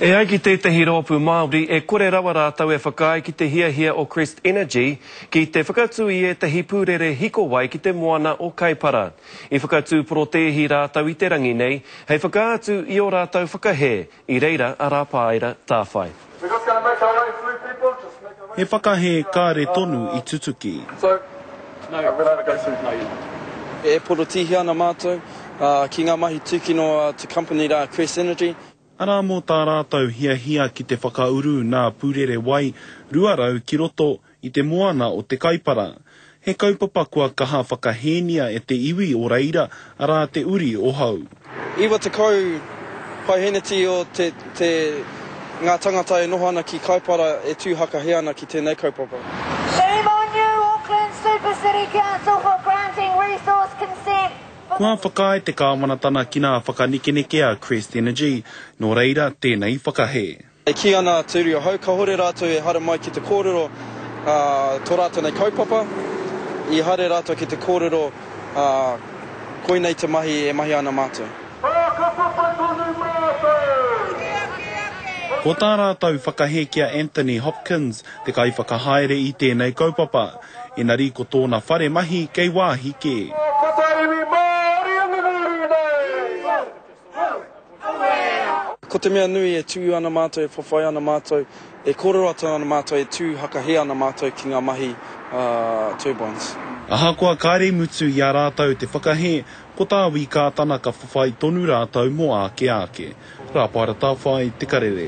E ai ki tētahi rōpū Māori, e kore rawa rātou e whakaae ki te hiahia o Crest Energy ki te whakatū i ētahi pūrere hikowai ki te moana o Kaipara. I whakatū porotēhi rātou i te rangi nei hei whakaatu i ō rātou whakahē, i reira a Rāpāera Tāwhai. He whakahē kāre tonu i tutuki. E porotihia ana mātou ki ngā mahi tūkino a Te Company rā Crest Energy. Arā mō tā rātou hiahia ki te whakauru nā pūrere wai 200 ki roto I te moana o Te Kaipara. He kaupapa kua kaha whakahēnia e te iwi o reira, arā te uri o hau. Iwa tekau paiheneti o te te ngā tangata e noho ana ki Kaipara e tū hakahea ana ki tēnei kaupapa. Shame on you Auckland Super City Council for granting resource consent for the. Kua whakaae te kāwanatana ki nā whakanekenekea Crest Energy, nō reira tēnei whakahē. E kī ana a Te Uri o Hau, kahore rātou e haere mai ki te kōrero tō rātou nei kaupapa, i haere rātou ki te kōrero koinei te mahi e mahia ana mātou. Whakapapa tonu mātou! Ko tā rātou whakahē ki a Anthony Hopkins te kaiwhakahaere i tēnei kaupapa, engari ko tōna whare mahi kei wāhi kē. Ko te mea nui e tū ana mātou, e whawhai ana mātou, e kōrero atu ana mātou, e tū hakahē ana mātou ki ngā mahi a Turbines. Ahakoa kāre i mutu i a rātou te whakahē, ko tā Wī Kātana ka whawhai tonu rātou mō āke āke. Rāpara Tāwhai, Te Karere.